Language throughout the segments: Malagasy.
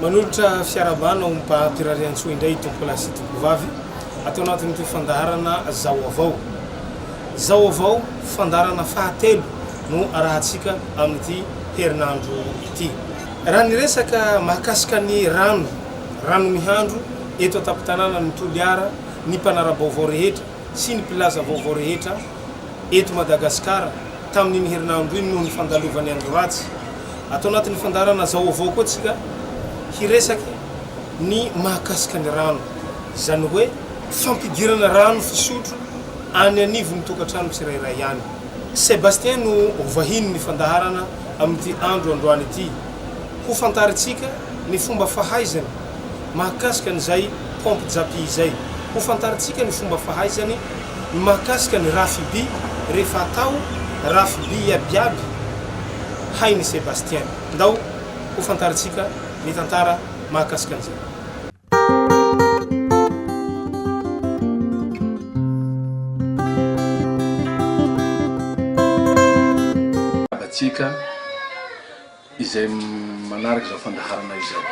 Manolotra fiarahabana ho Mpaty Rariantsoa indray i Tompola sy Tompovavy ato anatin'ity fandaharana Zao avao. Zao avao, fandaharana fahatelo no arahantsika amin'ity herinandro ity. Ty. Raha ny resaka mahakasika ny rano, rano mihandro, eto an-tampon-tanànan' ny Toliara, ny mpanara-baovao rehetra sy ny mpilaza vaovao rehetra eto Madagasikara tamin' iny herinandro iny noho ny fandalovan'ny andro ratsy. Ato anatin' ny fandaharana Zao Ovao koa tsika hiresaka ny mahakasika ny rano, izany hoe fampidirana rano fisotro any anivon'ny tokantrano tsirairay any. Sebastien no ho vahinin'ny fandaharana Amin'ity andro androany ity, hofantarintsika ny fomba fahaizany mahakasika an'izay pompe japy izay. Hofantarintsika ny fomba fahaizany mahakasika ny rafim-by rehefa atao rafim-by iabiaby hain'i Sébastien. Ndao hofantarintsika ny tantara mahakasika an'izay. Antsika izay manaraka izao fandaharana izao.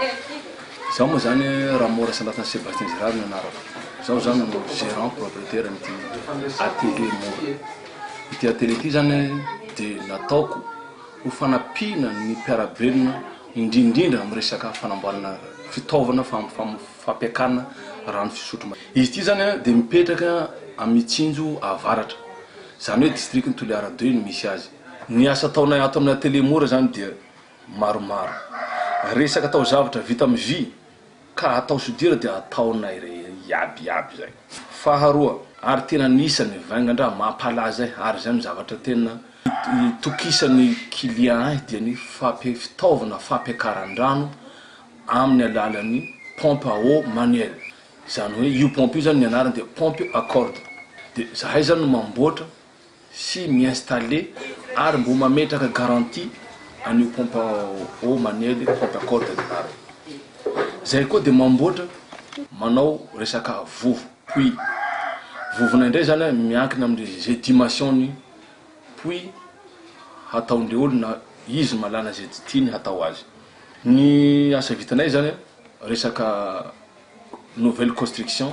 Izaho moa izany Ramo Rasandrata Sébastien Gérard no anarako. Izaho izany no gérant propriétaire amin'ity atelier mora. Ity atelier ity izany dia nataoko ho fanampiana ny mpiara-belona indrindrindra amin'ny resaka fanamboarana fitaovana fampiakarana rano fisotro madio. Izy ity izany dia mipetraka amin'ny Itsinjo avaratra, izany hoe distrikan'i Toliara deux no misy azy. Ny asa ataonay ato amin'ny atelier mora izany dia maromaro. Resaka taozavatra vita amin'ny vy. Ka atao soudure dia ataonay re iaby iaby zay. Faharoa, ary tena nisy ny vainga ndra mampalaza ahy ary izay no zavatra tena itokisan'ny client ahy dia ny fampi- fitaovana fampiakaran-drano amin'ny alalan'ny pompe à eau manuelle, izany hoe io pompe io zany ny anarany dia pompe à corde, dia zahay zany no mamboatra sy mi-installer ary mbo mametraka garantie an'io pompe à eau manuel io, pompe à corde ny anarany. Izay koa dia mamboatra, manao resaka vovo, puits. Vovonay indray izany an, miankina amin'izay dimension-ny puits hataon'ilay olona, izy mahalala izay tiany hatao azy. Ny asa vitanay izany an, resaka nouvelle construction.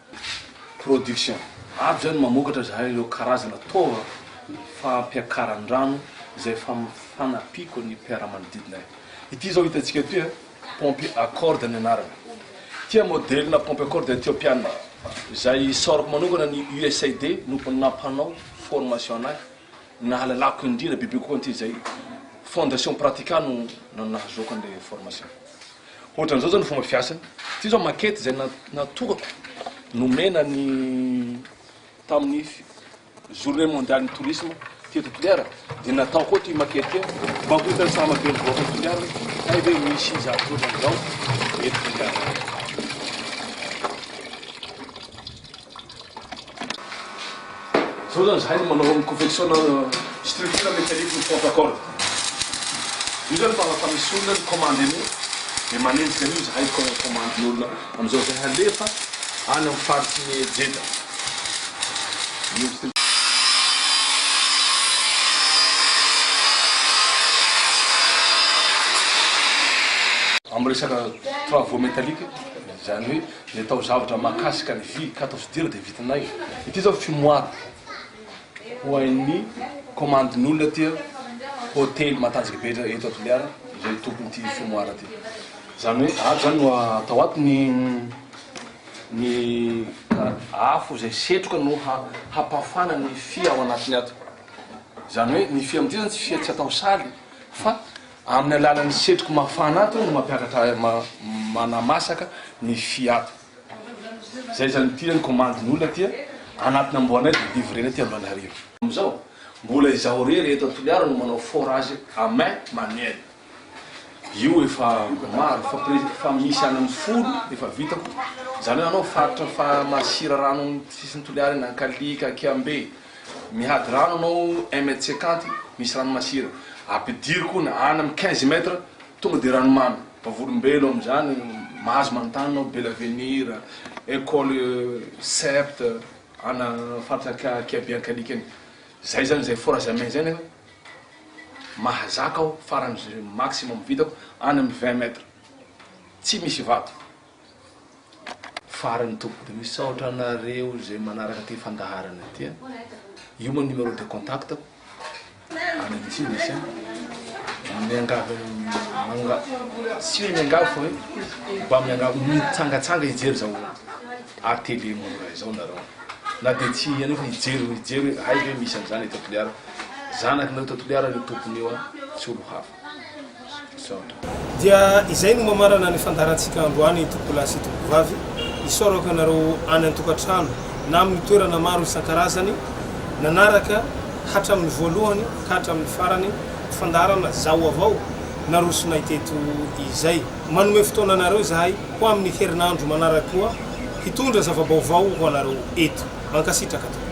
Production. Avy izay no mamokatra izahay ireo karazana taova fampiakaran-drano izay efa fanampiako ny mpiara-manodidinay. Ity izao hitantsika ity, paompy à corde ny anarany. Ity an modelina paompy à corde Ethiopiana izay isaorako manokana ny USAID no nampanao formation anay. Nahalalako indrindra bebe kokoa an'ity izay Fondation Pratica no nahazoako an'ilay formation. Hoatran'izao izao ny fomba fiasany. Ity izao maquette izay natokako nomena ny tamin'ny journée mondiale ny tourisme teto Toliara dia nataoko ao ity maquette ity mba ho hitan'ny saha mabe ny vahoaka Toliara hay ve misy zavatra ohatran'izao eto Toliara. Zao zany zahay no manao ny confection na structure mécanique ny pompe à corde. Io zany fa refa misy olona ny commande an'io de manenjika an'io zahay ko commande ny olona amizao zay halefa any am faritry ny Jeddah. Am resaka travaux métallique zany hoe. Ilay taozavatra mahakasika ny vy ka atao soudure dia vitanay. Ity izao fumoir ho an'ny komandin'olona aty hotely matanjaka be eto à Toliara ilay tompon'ity fumoir ity. Izany hoe ato izany no atao ato ny ny afo izay setroka no hampafana ny fia ao anatiny ato. Izany hoe ny fia amin'ity izany tsy fia tsy atao saly fa Amin'ny alalan'ny setroky mafana ato no mampiakatra manamasaka ny fia ato. Zay zany ity zany commande ny olona aty anatina amboanay de livrena aty Antananarivo. Amizao mbola izaho irery eto Toliara no manao forage à main manuelle. Io efa maro efa presque efa misy any amin'ny folo efa vitako. Zany hoe anao faritra fa masira rano amin'ny sisin'i Toliara eny Ankalika, Kiambe. Mihady rano anao un mètre cinquante misy rano masira ampidiro koa na any am quinze mètre tonga de ranomamy. Vavolombelo amzany mahazo manontany anao bel avenir, ecole cept ana faritra anka kiabe ankalika any zay zany zay forage à main zay nefa mahazaka aho farany maximum vitako any am vingt mètre tsy misy vato. Farany tompoko misaotra anareo izay manaraka ity fandaharana ity a. Io moa numéro de contact ko. Any amintsika misy a. Miangavy manga tsy hoe miangavy fa hoe mba miangavy mitsangatsanga hijery zao ATV mora izao nareo. Na dia tsy anio fa hijery hijery hoe hay ve misy an'izany eto Toliara. Zanaky nareo eto Toliara io tompony io a, tsy olo hafa. Dia izay no mamarana ny fandaharantsika androany tompolahy sy tompovavy. Isaorako ianareo any an-tokantrano na amin'ny toerana maro isan-karazany nanaraka hatramin'ny voalohany ka hatramin'ny farany fandaharana Zaho avao narosonay teto izay. Manome fotoana anareo izahay ho amin'ny herinandro manaraka koa hitondra zava-baovao ho anareo eto. Mankasitraka tompoko.